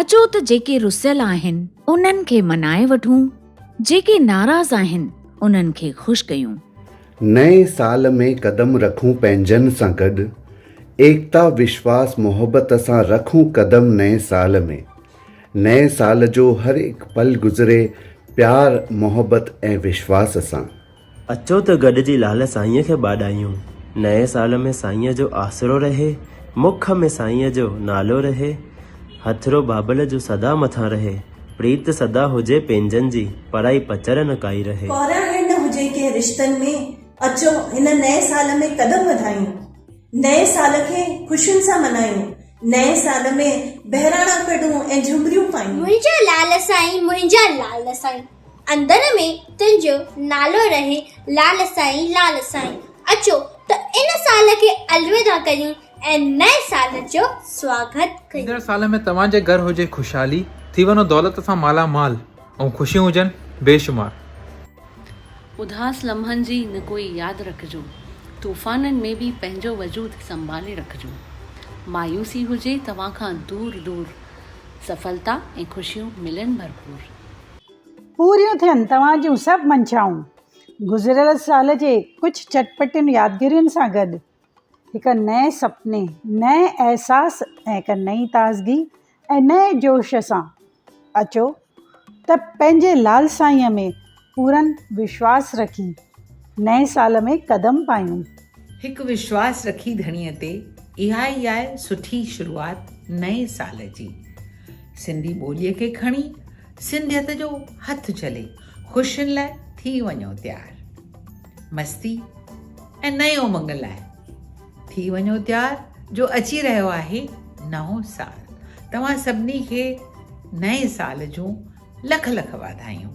اچو ته جيڪي رسيل آهن انهن کي منائي وٺون، جيڪي ناراض آهن انهن کي خوش ڪيون. نئين سال ۾ قدم رکون پنهنجن سان گڏ، ايڪتا وشواس محبت سان رکون قدم نئين سال ۾، نئين سال جو هر هڪ پل گذري پيار محبت ۽ وشواس سان. اچو ته گڏجي لعل سائينء کي ٻاڏايون، نئين سال ۾ سائينء جو آسرو رهي، مک ۾ سائينء جو نالو رهي، هٿڙو بابل جو سدا مٿان رهي، پريت سدا هجي پنهنجن جي، پرائي پچر نه ڪائي رهي. ڪوراهڻ نه هجي ڪنهن رشتن ۾، اچو هن نئين سال ۾ قدم وڌايون، نئين سال کي خوشين سان منايون، نئين سال ۾ بهراڻا ڪڍون ۽ جهمريون پايون. منهنجا لعل سائين منهنجا لعل سائين. اندر ۾ تنهنجو نالو رهي لال سائين لال سائين اچو ته ان سال کي الوداع ڪريون ۽ نئين سال جو سواگت ڪريون. ايندڙ سال ۾ توهان جي گهر هجي خوشحالي، ٿي وڃو دولت سان مالا مال ۽ خوشيون هجن بي شمار. اداس لمحن جي نه ڪوئي ياد رکجو، طوفانن ۾ به پنهنجو وجود سنڀالي رکجو. مايوسي هجي توهان کان دور دور، سڦلتا ۽ خوشيون ملن ڀرپور. پوريون ٿين توهان جون سڀ منشائون. گذريل سال جي ڪجهه چٽپٽين يادگيرين سان گڏ هڪ نئين سپني، نئين احساس ۽ هڪ نئين تازگي ۽ نئين جوش سان اچو ته پنهنجي لعل سائينء ۾ پورن وشواس رکي، نئين سال ۾ قدم پايون. هڪ وشواس رکي ڌڻيء تي، اها ئي آهي سٺي شروعات نئين سال جي. سنڌي ٻوليء کي کڻي، سنڌيت جو هٿ جهلي، خوشين لاء ٿي وڃو تيار. مستي ۽ نئين امنگ لاء ٿي وڃو تيار جو اچي رهيو آهي نئون سال. توهان سڀني کي نئين سال جون لک لک واڌايون.